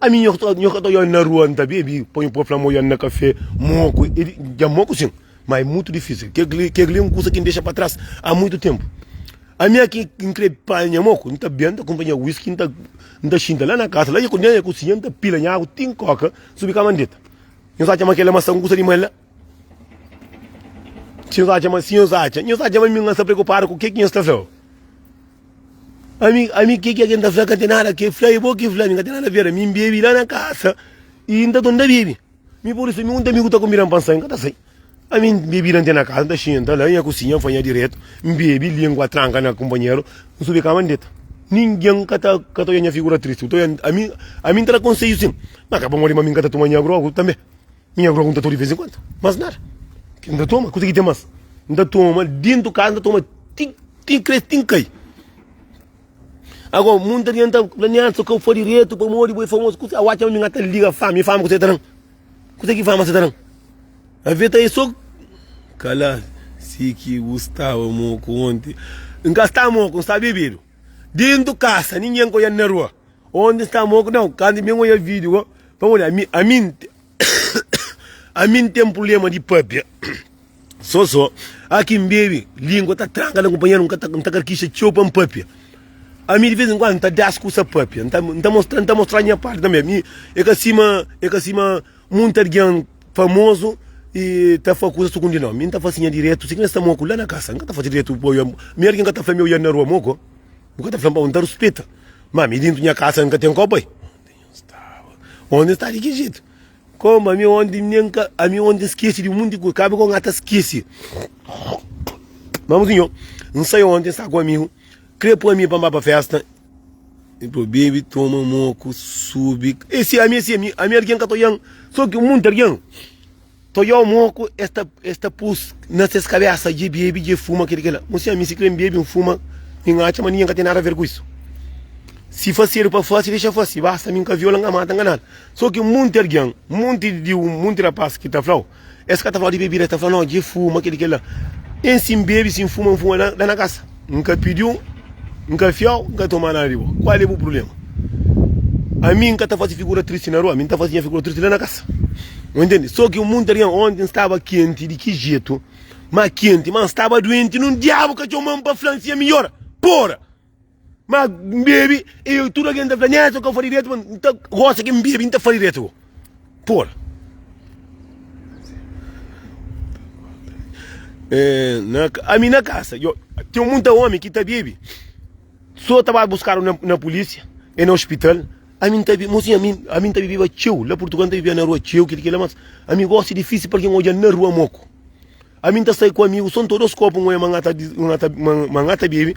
Ami nho ka nho ka ta ol na rua nta bebi pa nho poi fla mo ol na kafé moku e dja moku sin ma e mutu difisil kekli kekli un kusa ki ndexa pa tras a muitu tenpu ami aki nkre panha moku nta bia nta kunpra nha wiski nta nta xinta la na kasa la nha nha kusinha nta pila nha agu tin koka subi kama ndeta nho sa atxa ma kela ma sta un kusa di mala si nho sa atxa ma si nho sa atxa nho sa atxa ma mi nka sta preokupadu ku keki nho sta fla. Ami, ami kê kê kê n'ta fla ka tê nada kê fla ê bo kê fla mi ka tê nada vera mi n'bebe la na kasa e n'ta ton ta bebe mi por isu mi un t'amigu ta konbida-m pa n'sai n'ka ta sai ami n'bebe la n'tê na kasa n'ta xenta la nha kusinha n'fa nha diretu n'bebe lingua tranka na kunpanheru n'subi kama n'deta ningen ka ta ka ta oja nha figura tristi ami ami n'ta da konseju sin ma ka pamodi ma ami n'ka ta toma nha grogu tanbe. Mi nha grogu N ta toma di vez en kuandu Mas nada ki N ta toma Kusa ki ten mas N ta toma Dentu kaza N ta toma Ti ti N kre ti N kai Ago mun ta dianta Planial so ka bu fla diretu Pamodi bo e famozu Kusa a watcha ma mi N ata liga fama E fama kusa e ta dan Kusa ki fama sa ta dan A veta e so Kala Si ki bu staba moku onti N ka sta moku N sta bebedu Dentu kasa Ninguen ka oja-m na rua. Onde está amor ku nau kande ben oia video go pa modi ami ami ami n ten problema di papia so so aki n bebe lingua ta tranca na companheiro n ta n ta karkixa txeu pa n papia ami di vez em quando n ta das kusa papia n ta n ta mostra n ta mostra nha parte tambe ami e ka sima e ka sima muita argen famoso e ta fa kusa sukundi no ami n ta fasi nha direto si ki n sta mo ku la na casa n ka ta fasi direto pa oia mi argen ka ta fla mi oia na rua mo ko. Bu ka ta fla-m pa bu n ta ruspeta ma mi? Dintu nha kasa n ka ten kóbai? Óndi N staba? Óndi N sta di ki jetu? Kómu ami óndi N ka. Ami óndi N skese di un monti kuza, ka be kómu N ta skese. Vamos Sinhor. N sai óndi, N sta ku amigu, krê poi ami pa N ba pa fésta. N ta bebe, toma, moku, subi. Ê si ami, ê si ami. Ami algen ka ta oia-m, sô ki un monti algen. To yo moku es ta es ta pus na ses kabesa dje bebe dje fuma kila kila mo sen mi si kre n bebe n fuma mi n atxa ma ninhen ka ten nada a ver ku isu si fasedu pa fase dexa fase basta mi n ka viola n ka mata n ka nada so ki munti algen munti di un munti rapaz ki ta flau es ka ta flau di bebida es ta flau no dje fuma kila kila en si n bebe si n fuma n fuma la na kasa. N ka pidi-u, N ka fia-u, N ka toma nada di bo. Kual é bu prubléma? Ami N ka ta fase figura tristi na rua, ami N ta fase nha figura tristi la na kasa. Bu intende? Sô ki monti algen onti N staba kenti di ki jetu, má kenti, má N staba duenti. Nun diabu ka txoma-m pa fla-m si N midjora. Pôra! Má N bebe i tudu algen ta fla-m, Nési, N ka fla diretu ma N ta gosta ki N bebe i N ta fla diretu. Pol. Eh, na, ami na kasa, yo, tem muita homem que tá bebe. Só tá buscar na, na polícia, é na hospital. A mim tá bebe, mocinha, a mim, a mim tá bebe tcheu. Lá Portugal tá bebe na rua tcheu, que que lá, mas a mim gosta difícil para quem olha na rua moco. Ami N ta sai ku amigu sô N ta dôs kópu N oia ma N ta bebe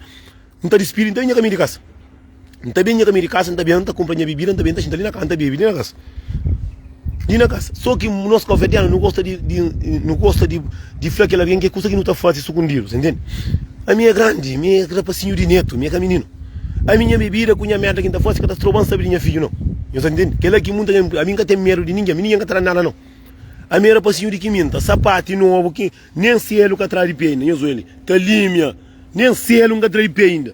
N ta dispidi N ta ben nha kaminhu di kasa N ta ben nha kaminhu di kasa N ta ben N ta kunpra nha bebida N ta ben N ta xinta li na kasa N ta bebe li na kasa Li na kasa Sô ki nos káuverdianu nu gosta di nu gosta di di fla kel algen ki kusa ki nu ta faze sukundidu ta ntende Ami é grandi mi é rapasinhu di netu mi é ka mininu Ami nha bebida ku nha merda ki N ta faze ka ta stroba-m sabi di nha fidju nau nhos ta ntende kela ki munta Ami N ka ten medu di ningen mi ningen ka ta da-m nada nau. Ami era pasinhu di kiminta Sapati nobu ki nen selu ka tra di pé inda Nho zui li ta limia Nen selu N ka tra di pé inda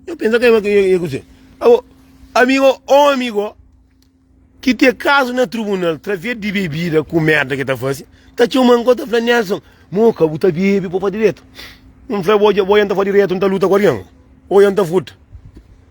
Nho pensa kema ki Nho kuzê Abo ami go omi go Ki te kazu na trubunal Través di bebida ku merda ki ta fase Ta txoman ko ta fla Nelson Mo ka bu ta bebe bo fla diretu N fla bo dja bo ya N ta fla diretu N ta luta ku arian Oia N ta futa.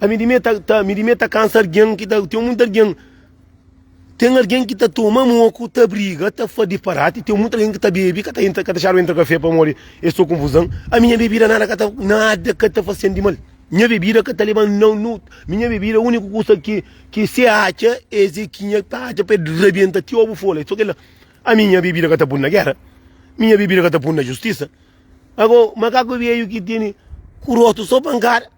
Ami di mi ta ta ami di mi ta kansa argen ki ta ten muita argen ten argen ki ta toma moku ta briga ta fa diparati ten muita argen ki ta bebi ka ta entra ka ta xadu entra kafe pamodi es sto konfuzan ami nha bebida nada ka ta nada ka ta fasen di mal nha bebida ka ta leban na nu mi nha bebida uniku kusa ki ki se atxa es e ki nha ta atxa pa e rabenta ti obu fola e so kila ami nha bebida ka ta pun na gera mi nha bebida ka ta pun na justisa ago makaku beiu ki tene ku rostu so pankada.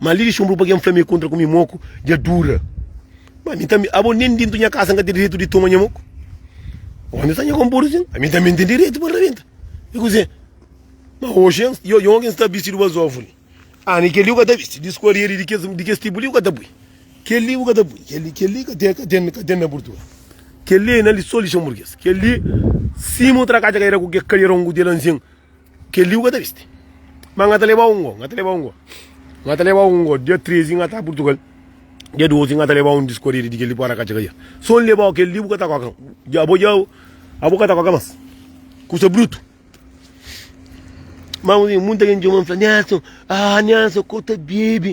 Ma li di xunbru pa gen fla mi kontra ku mi moku dja dura. Ma mi tanbi, abo nen dintu nha kasa nka ten direitu di toma nha moku. Onde sta nha kompodu sin? Ami tanbi nten direitu pa rabenta. E kuzê? Ma oxi N, yo, yo nken sta bistidu bazofu li. Ani kel li ku ka ta bisti, di skoria di, di kes, di kes tipu li ku ka ta pui. Kel li ku ka ta pui. Kel li, kel li ka ten, ka ten, ka ten na Purtugal. Kel li na li so lixamburgues. Kel li sima un trakadja ka era ku ke kalheron ku tel anzin. Kel-li u ka ta bisti. Má N ta lebau un go, N ta lebau un go. N ta lebau un go. Dia 13 N ta Purtugal. Dia 12 N ta lebau un disku adedi di kel-li pa ora ka txiga dja. Sô N lebau kel-li bu ka ta koka. Dja bo dja abo ka ta koka más. Kusa brutu. Má, munti algen djobe-m fla, Nelson, aah Nelson, kau ta bebe.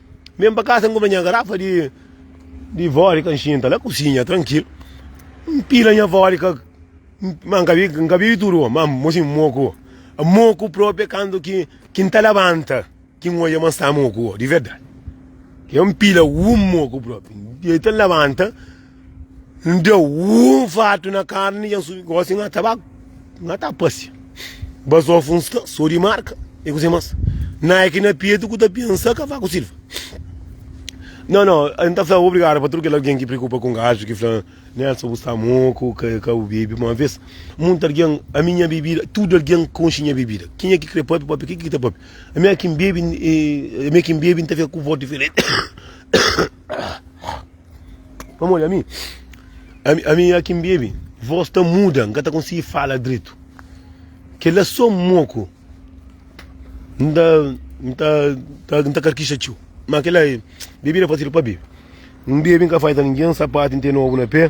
Bem pa casa, nguba nha garrafa de, de vodka, nxinta la cozinha, tranquilo. Mpila nha vodka, mas nka bebi, nka bebi tudo, mas mosin moco. A moco próprio é quando que, que nta labanta, que n'odja ma n'sta moco, de verdade. Eu mpila um moco próprio, deita, labanta. N deu un fatu na karni i N subi. Gosi N ata ba, N ata pase. Bazofu N sta, so di marka. E kuzê mas? Nike na petu ku ta pensa Kavaku Silva. Não, não, a gente fala obrigado para tudo aquele alguém que preocupa com o gajo, que fala, Nelson, você está moco, que, que eu bebi uma vez. Muito alguém, a minha bebida, tudo alguém conche minha bebida. Quem é que crê papi, papi, quem é que tá papi? A minha quem bebe, a minha quem bebe, então fica com voto diferente. Pamodi ami, ami, ami é ki N bebe, vós ta muda, N ka ta konsigi fala dretu. Kel-la sô un moku, N ta, N ta, N ta karkixa txeu. Má kel-la é bebida pa txidu pa bebe. N bebe, N ka faze ta ningen, sapatu N ten nobu na pé.